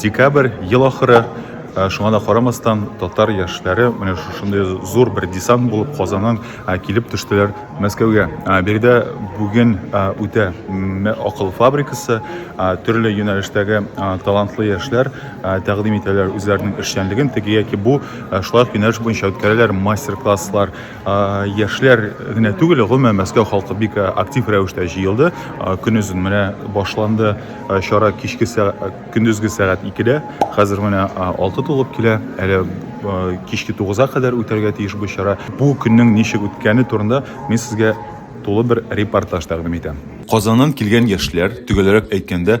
Декабрь, ел ахыры. Шуңа да карамастан, татар яшьләре менә шушындый зур бер десант булып Казаннан килеп төштеләр Мәскәүгә. Биредә бүген үтә акыл фабрикасы, төрле юнәлештәге талантлы яшьләр тәкъдим итәләр үзләренең эшчәнлеген теге яки бу шулай юнәлеш буенча үткәрәләр мастер-класслар. Яшьләр генә түгел, гомумән Мәскәү халкы бик актив рәвештә җыелды. Көнезен менә башланды чара кичке көндезге сәгать 2-дә. Хәзер менә 6 тулып килә. Әле кичке 9-а кадәр үтәргә тиеш бу чара. Бу көннең ничек үткәне турында мин сезгә тулы бер репортаж тәкъдим итәм. Казаннан килгән яшьләр, төгәлрәк әйткәндә,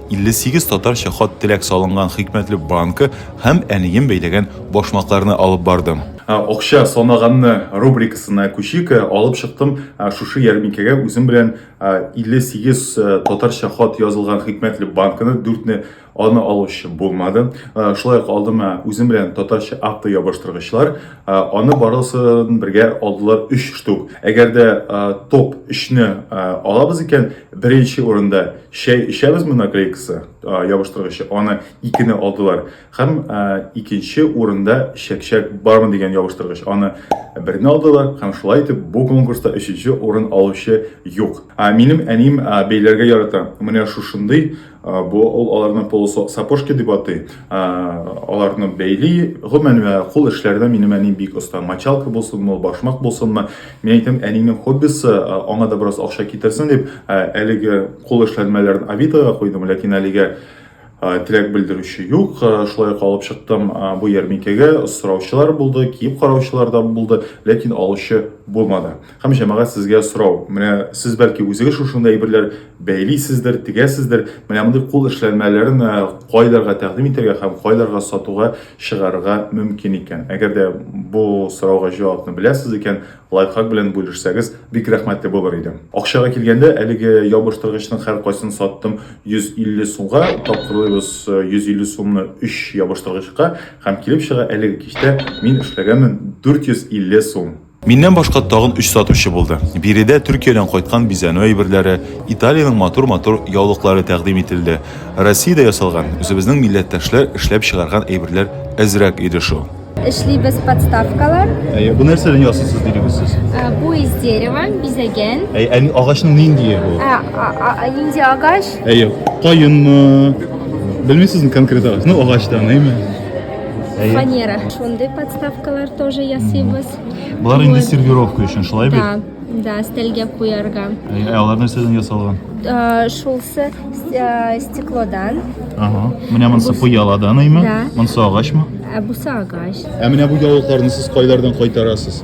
58 татарча хат-теләк салынган хикмәтле банка һәм әнием бәйләгән башмакларны алып бардым. Акча санаганны рубрикасына күчик. Алып чыктым шушы ярминкәгә үзем белән 58 татарча хат язылган хикмәтле банканы, дүртне аны алучы булмады. Шулай ук алдым үзем белән татарча автоябыштыргычлар, Аны барысын бергә алдылар 3 штук. Әгәр дә топ 3-не алабыз икән, беренче урында чәй эчәбез бу наклейкасы, ябыштыргычы. Аны 2-не алдылар. Һәм икенче урында чәкчәк бармы дигән ябыштыргыч. Аны берне алдылар һәм шулай итеп бу конкурста 3-нче урын алучы юк. Минем әнием бәйләргә ярата. Менә шушындый Бу ул аларны полусо сапожки дип атый. Аларны бәйли. Гомумән, кул эшләрдә минем әни бик оста. Мочалка булсынмы, башмак булсынмы. Мин әйтәм, әнинең хоббисы, аңа да бераз акча китерсен дип, әлеге кул эшләнмәләрен Авитога куйдым, ләкин әлегә теләк белдерүче юк. Шулай ук алып чыктым бу ярминкәгә. Сораучылар булды, киеп караучылар да булды, ләкин алучы булмады. Һәм җәмәгать сезгә сорау. Менә сез бәлки үзегез шушында әйберләр бәйлисездер, тегәсездер. Менә мондый кул эшләнмәләрен э, кайларга тәкъдим итәргә һәм кайларга сатуга чыгарырга мөмкин икән. Әгәр дә бу сорауга җавапны беләсез икән, лайфхак белән бүлешсәгез, бик рәхмәтле булыр идем. Акчага килгәндә, әлеге ябыштыргычның һәркайсын саттым 150 сумга, тапкырлыйбыз 150 э, сумны 3 ябыштыргычка һәм килеп чыга әлеге кичтә мин эшләгәнмен 450 сум. Миннән башка тагын өч сатучы булды. Биредә Төркиядән кайткан бизәнү әйберләре, Италиянең матур-матур яулыклары тәкъдим ителде. Россиядә ясалган, үзебезнең милләттәшләр эшләп чыгарган әйберләр әзрәк иде шул. эшлибез подставкалар. Әйе, бу нәрсәдән ясыйсыз дидегез сез? Ә, Бу из дерева, бизәгән. Әйе, әни агачның ниндие бу? Ә, а- а- а Нинди агач? Әйе, каенмы? Белмисезме конкрет агач? Ну, агачтан, әйме? Әйе. фанера. Шундый подставкалар тоже ясыйбыз. Болар инде Вот. сервировка өчен, шулай бит? Да, да, стельгә куярга. Ә алар нәрсәдән ясалган? Э, Шулсы с- э, стеклодан, Ага. Менә монысы пыяладан име? Да. Монысы агачмы? ә бусы агач. Ә менә бу яулыкларны сез кайлардан кайтарасыз?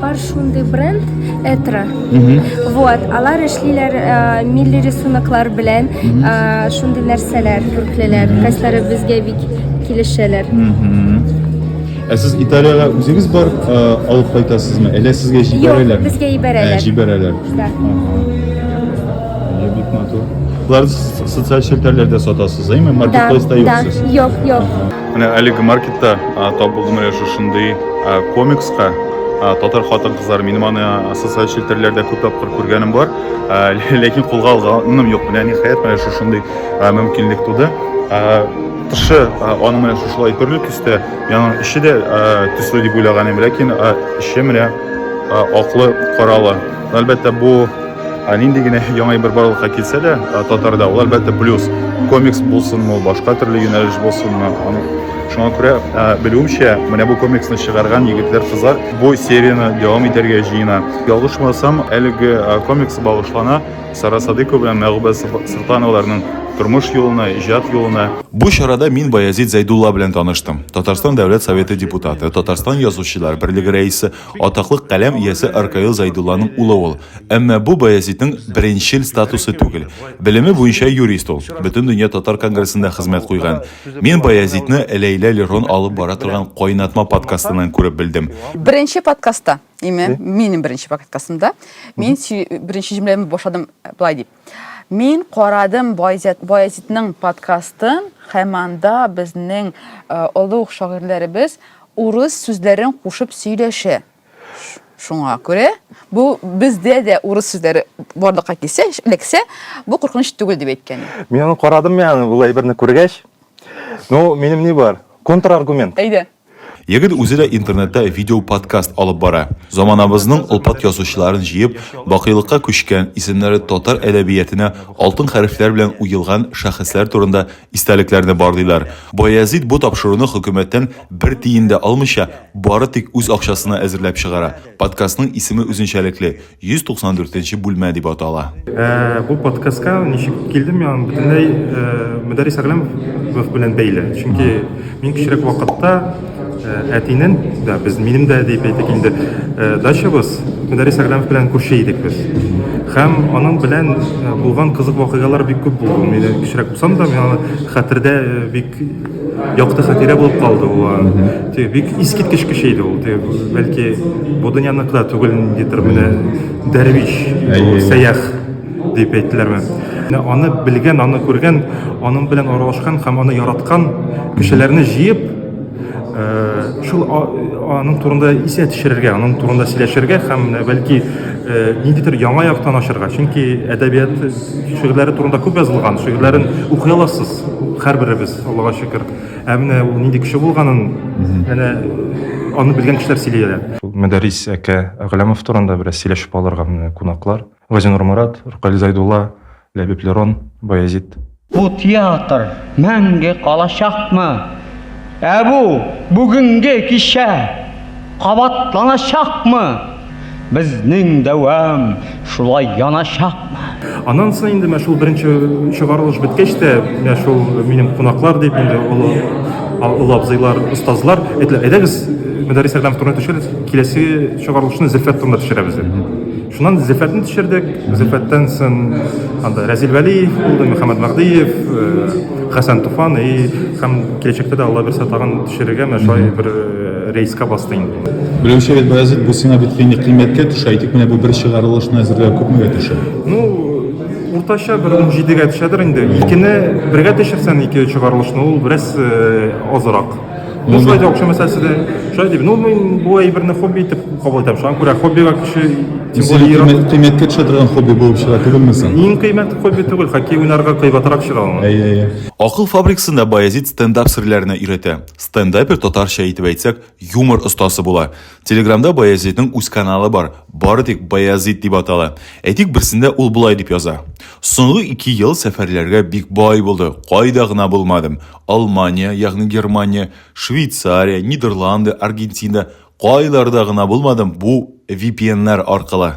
Бар шундый бренд Этра. Вот, алар эшлиләр э, милли рисунклар белән, э, шундый нәрсәләр күрклеләр. Кайсылары безгә бик килешәләр. Ә сез Италиягә үзегез бар э, алып кайтасызмы? Әллә сезгә җибәрәләр? Юк, безгә җибәрәләр. Ә, җибәрәләр. Да. Бик матур. Болар социаль челтәрләрдә сатасыз, әйме? Маркетплейста юк сез? Юк, юк. Менә әлеге маркетта тап булдым әле шушындый комикска татар хатын кызлар минем аны социаль челтәрләрдә күп тапкыр күргәнем бар ләкин кулга алганым юк менә ниһаять менә шушындый мөмкинлек туды тышы аны менә шушылай төрле төстә яңа эче дә төсле дип уйлаган идем ләкин эче менә аклы каралы әлбәттә бу Ә нинди генә яңа бер барлыкка килсә дә, татарда ул әлбәттә плюс. Комикс булсынмы, башка төрле юнәлеш булсынмы, аны шуңа күрә белүемчә, менә бу комиксны чыгарган егетләр, кызлар бу серияне дәвам итәргә җыена. Ялгышмасам, әлеге комикс багышлана Сара Садыйкова белән Мәгъүбә Солтановаларның тормыш юлына, иҗат юлына. Бу чарада мин Баязит Зәйдулла белән таныштым, Татарстан Дәүләт Советы депутаты, Татарстан Язучылар берлеге рәисе, Атаклы каләм иясе Аркаил Зайдулланың улы ул. Әмма бу Баязитның беренчел статусы түгел. Белеме буенча юрист ул. Бөтен дөнья татар конгрессында хезмәт куйган. Мин Баязитны Ләйлә Лерон алып бара торган Кайнатма подкастыннан күреп белдем. Беренче подкастта, именно минем беренче подкастымда, мин беренче җөмләмне башладым болай дип. Мин карадым Баязитның подкастын, һәм анда безнең э, олуг шагыйрьләребез урыс сүзләрен кушып сөйләшә. Шуңа күрә бу бездә дә урыс сүзләре барлыкка килсә, эләксә, бу куркыныч түгел дип әйткән. Мин аны карадым, яны бу әйберне күргәч. Ну, минем ни бар? Контраргумент. Әйдә. Егет үзе дә интернетта видео-подкаст алып бара. Заманабызның олпат язучыларын җыеп, бакыйлыкка күчкән, исемнәре татар әдәбиятенә алтын хәрефләр белән уелган шәхесләр турында истәлекләрне барлыйлар. Баязит бу тапшыруны хөкүмәттән бер тиен дә алмыйча, бары тик үз акчасына әзерләп чыгара. Подкастның исеме үзенчәлекле, 194 нче бүлмә дип атала. Ә, бу подкастка ничек килдем мин аны бөтенләй ә, Мөдәррис Әгъләмов белән бәйле. Чөнки мин кечерәк вакытта ә, әтинен, да, без минем дә дип әйтик инде, ә, дачабыз Мөдәррис Әгъләмов белән күрше идек без. Һәм аның белән булган кызык вакыйгалар бик күп булды. Мин кечерәк булсам да, мин аны хәтердә бик Якты хатирә булып калды ул. Теге бик искиткеч кеше иде ул. Теге бәлки бу дөньяныкы да түгел ниндидер менә дәрвиш, сәях дип әйттеләрме. Аны белгән, аны күргән, аның белән аралашкан һәм аны яраткан кешеләрне җыеп, шул аның турында исә төшерергә, аның турында сөйләшергә һәм бәлки ниндидер яңа яктан ачарга. Чөнки әдәбият шигырьләре турында күп язылган, шигырьләрен укый аласыз. Һәрберебез, Аллага шөкер. Ә менә ул нинди кеше булганын, әнә аны белгән кешеләр сөйлиләр. Мәдәрис әкә Әгъләмов турында бераз сөйләшеп алырга менә кунаклар. Газинур Марат, Ркаил Зайдулла, Ләбиб Лерон, Баязит. Бу театр мәңге калачакмы? Ә бу бүгенге кичә кабатланачакмы? Безнең дәвам шулай яначакмы? Аннан соң инде менә шул беренче чыгарылыш беткәч тә, менә шул минем кунаклар дип инде олы олы абзыйлар, остазлар, әйтелә, әйдәгез, Мөдәррис Әдәм турында төшерегез, киләсе чыгарылышны Зөлфәт турында төшерәбез дип. Шуннан Зөлфәтне төшердек. Зөлфәттән соң анда Рәзил Вәлиев булды, Мөхәммәд Мәгъдиев, э, Хәсән Туфан и һәм киләчәктә дә Алла бирсә тагын төшерергә, менә шулай бер э, Рейска басты инде. Белүче бит Баязит, бу сиңа бит кыйммәт кыйммәткә төшә, әйтик менә бу бер чыгарылышны әзерләү күпмегә төшә? Ну, уртача бер 17-гә төшәдер инде. Икене бергә төшерсәң, ике чыгарылышны ул бераз э, азрак. Ну, шулай да акча мәсьәләсе дә. Шулай дип, ну, мин бу әйберне хобби итеп кабул итәм. Шуңа күрә хоббига кеше тем Сиңа более иран- кыйммәт- кыйммәткә төшә торган хобби булып чыга түгелме соң? Иң кыйммәт хобби түгел, хоккей уйнарга кыйбатрак чыга ул. Әйе, әйе. Акыл фабрикасында Баязит стендап серләренә өйрәтә. Стендапер татарча итеп әйтсәк, юмор остасы була. Телеграмда Баязитның үз каналы бар, бары тик Баязит дип атала. Әйтик, берсендә ул болай дип яза. Соңгы ике ел сәфәрләргә бик бай булды, кайда гына булмадым. Алмания, ягъни Германия, Швейцария, Нидерланды, Аргентина, кайларда гына булмадым, бу VPN-нар аркылы.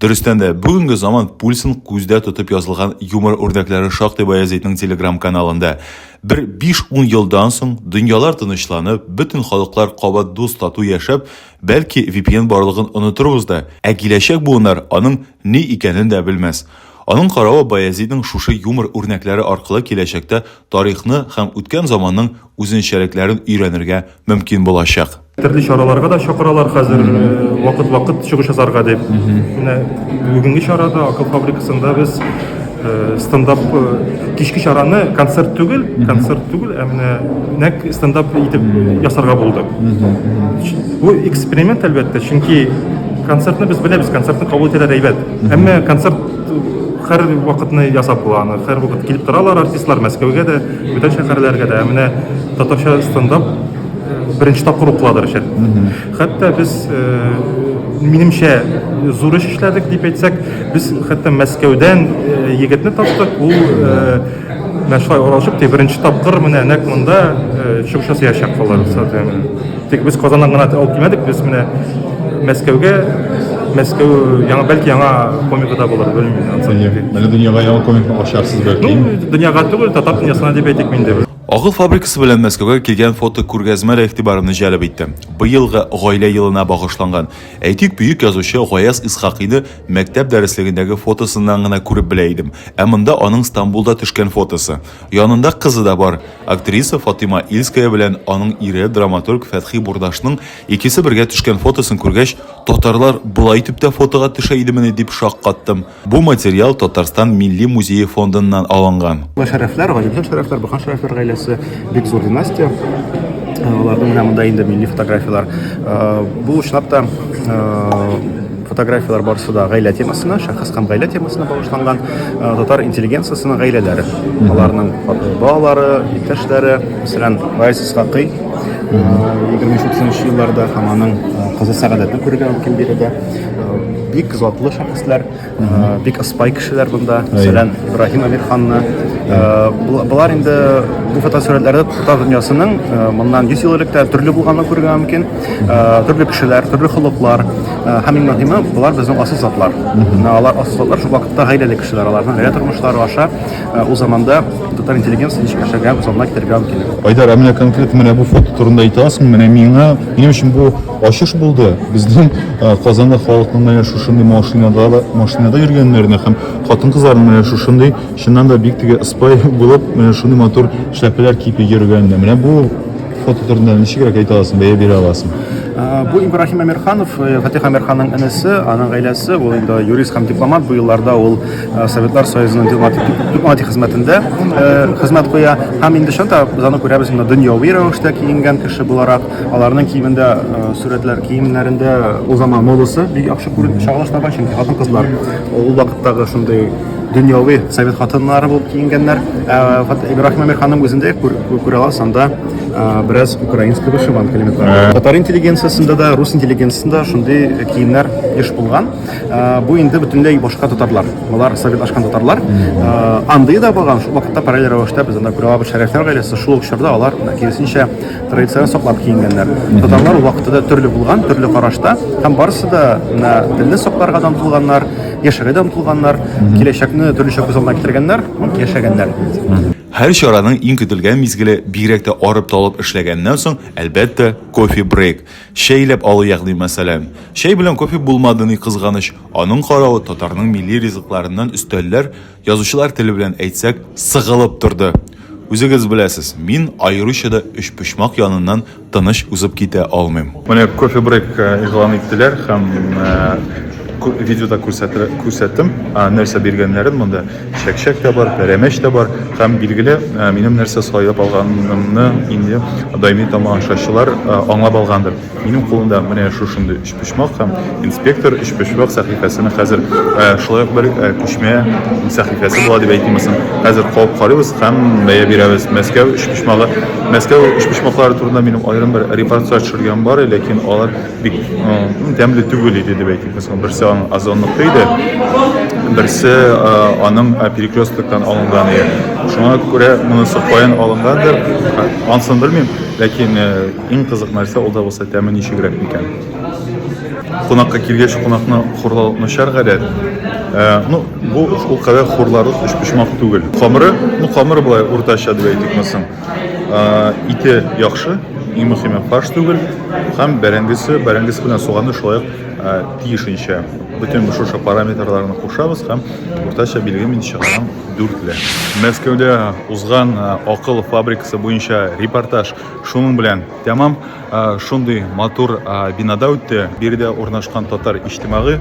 Дөрестән дә, бүгенге заман пульсын күздә тотып язылган юмор үрнәкләре шактый Баязитның телеграм-каналында. Бер 5-10 елдан соң дөньялар тынычланып, бөтен халыклар кабат дус тату яшәп, бәлки VPN барлыгын онытырбыз да, ә киләчәк буыннар аның ни икәнен дә белмәс. Аның каравы Баязитның шушы юмор үрнәкләре аркылы киләчәктә тарихны һәм үткән заманның үзенчәлекләрен өйрәнергә мөмкин булачак. Төрле чараларга да чакыралар хәзер вакыт-вакыт чыгыш ясарга дип. Менә бүгенге чарада Акыл фабрикасында без стендап кичке чараны концерт түгел, концерт түгел, ә менә нәк стендап итеп ясарга булдык. Бу эксперимент әлбәттә, чөнки концертны без беләбез, концертны кабул итәләр әйбәт. Әмма концерт һәр вакытны ясап була аны, һәр вакыт килеп торалар артистлар Мәскәүгә дә, бүтән шәһәрләргә дә. Ә менә татарча стендап беренче тапкыр укыладыр өчен. Хәтта без э, минемчә зур эш эшләдек дип әйтсәк, без хәтта Мәскәүдән э, егетне таптык, ул э, менә шулай оралышып, тик беренче тапкыр менә нәкъ монда чыгыш ясаячак алар. Тик без Казаннан гына алып килмәдек, без менә Мәскәүгә Мәскәү яңа бәлки яңа комика да булыр, белмим. Әле дөньяга яңа комикны ачарсыз бәлки. Ну, дөньяга түгел, татар дөньясына дип әйтик инде. Агыл фабрикасы белән Мәскәүгә килгән фотокүргәзмә дә игътибарымны җәлеп итте. Быелгы Гаилә елына багышланган. Әйтик, бөек язучы Гаяз Исхакыйны мәктәп дәреслегендәге фотосыннан гына күреп белә идем. Ә монда аның Стамбулда төшкән фотосы. Янында кызы да бар. Актриса Фатыйма Ильская белән аның ире, драматург Фәтхи Бурдашның икесе бергә төшкән фотосын күргәч, татарлар болай итеп тә фотога төшә идемени дип шаккаттым. Бу материал Татарстан Милли музее фондыннан алынган. Бу шәрәфләр, Галимҗан Шәрәфләр, Баһа Шәрәфләр гаиләсе, бик зур династия. Аларның менә монда инде милли фотографияләр. Бу чынлап та фотографияләр барысы да гаилә темасына, шәхес һәм гаилә темасына багышланган. Татар интеллигенциясенең гаиләләре, аларның балалары, иптәшләре, мәсәлән, Гаяз Исхакый, 23-30 нчы елларда һәм аның кызы Сәгадәтне күрергә мөмкин биредә. бик затлы шәхесләр, бик аспай кешеләр монда. Мәсәлән, Ибраһим Әмирханны. Булар инде бу фотосурәтләрдә татар дөньясының моннан 100 ел элек тә төрле булганын күрергә мөмкин. Төрле кешеләр, төрле холыклар. Һәм иң мөһиме, булар безнең асыл затлар. Алар асыл затлар шул вакытта гаиләле кешеләр. Аларның гаилә тормышлары аша ул заманда татар интеллигенциясе ничек яшәгән, ул заманда китергә мөмкин. Айдар, ә менә конкрет менә бу фото турында әйтә аласыңмы? Менә миңа, минем өчен бу Ачыш булды. Безнең Казанлы халыкның менә шушындый машинада да машинада йөргәннәренә һәм хатын-кызларның менә шушындый чыннан да бик теге спай булып, менә шундый матур шәпеләр киеп йөргәненә. Менә бу фото турында ничегрәк әйтә аласың, бәя бирә аласың? Бу Ибрахим Әмирханов, э, Фатих Әмирханның энесе, аның гаиләсе, ул инде юрист һәм дипломат, бу елларда ул э, Советлар Союзының дипломатик хезмәтендә э, хезмәт куя. Һәм инде шунда без аны күрәбез, инде дөньяви рәвештә киенгән кеше буларак. Аларның киемендә сурәтләр, киемнәрендә ул заман модасы бик яхшы күренеп чагыла штаба, чөнки хатын-кызлар ул вакыттагы шундый дөньяви совет хатыннары булып киенгәннәр. Ибраһим Әмир ханым үзендә күрә аласыз, анда бераз украинский вышиванка элементлары. Татар интеллигенциясендә дә, рус интеллигенциясендә шундый киемнәр еш булган. Бу инде бөтенләй башка татарлар. Алар советлашкан татарлар. Андый да булган, шул вакытта параллель рәвештә без анда күрә алабыз шәрәфләр гаиләсе, шул ук чорда алар киресенчә традицион саклап киенгәннәр. Татарлар вакыты да төрле булган, төрле карашта, һәм барысы да менә телне сакларга да омтылганнар, яшәргә дә омтылганнар, киләчәкне төрлечә күз алдына китергәннәр, яшәгәннәр. Һәр чараның иң көтелгән мизгеле, бигрәк тә арып-талып эшләгәннән соң, әлбәттә, кофе-брейк, чәйләп алу ягъни мәсәлән. Чәй белән кофе булмады ни кызганыч, аның каравы татарның милли ризыкларыннан өстәлләр, Язучылар теле белән әйтсәк, сыгылып торды. Үзегез беләсез, мин аеруча да өчпочмак яныннан тыныч узып китә алмыйм. Менә кофебрейк игълан иттеләр һәм видеода күрсәттем, нәрсә биргәннәрен. Монда чәкчәк тә бар, пәрәмәч тә бар. Һәм, билгеле, минем нәрсә сайлап алганымны инде даими тамашачылар аңлап алгандыр. Минем кулымда менә шушындый Почмак һәм инспектор өчпочмак сәхифәсенең хәзер э, шулай ук бер э, күчмә сәхифәсе була дип әйтим соң. Хәзер куып карыйбыз һәм бәя бирәбез. Мәскәү өчпочмагы. Мәскәү өчпочмаклары турында минем аерым бер репортаж төшергән бар, ләкин алар бик э, тәмле түгел иде дип әйтик. Мәсәлән, берсе аның озонлыкта иде, берсе аның перекресткоктан алынган иде. Шуңа күрә монысы каян алынгандыр, ансын белмим, ләкин Иң кызык нәрсә ул да булса тәме ничегрәк микән? Кунакка килгәч кунакны хурлау начар гадәт. Ә, ну, бу ул кадәр хурларлык өчпочмак түгел. Камыры, ну, камыры болай уртача дип әйтик мосын. Ә, ите яхшы, иң мөхиме фарш түгел. Һәм бәрәңгесе, бәрәңгесе белән суганы шулай ук ә, тиешенчә. Бөтен шушы параметрларны кушабыз һәм уртача билге мин чыгарам 4 ле. Мәскәүдә узган ә, акыл фабрикасы буенча репортаж Шуның белән тәмам шундый матур бинада үтте. Биредә урнашкан татар иҗтимагый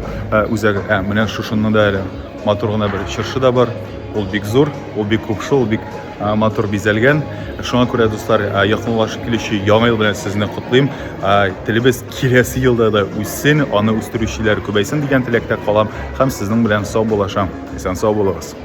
үзәге. Ә менә шушында да әле матур гына бер чыршы да бар. Ул бик зур, ул бик күп шул, бик матур бизәлгән. Шуңа күрә дуслар, якынлашып килүче яңа ел белән сезне котлыйм. Телебез киләсе елда да үссен, аны үстерүчеләр күбәйсен дигән теләктә калам һәм сезнең белән саубуллашам. Исән сау булыгыз.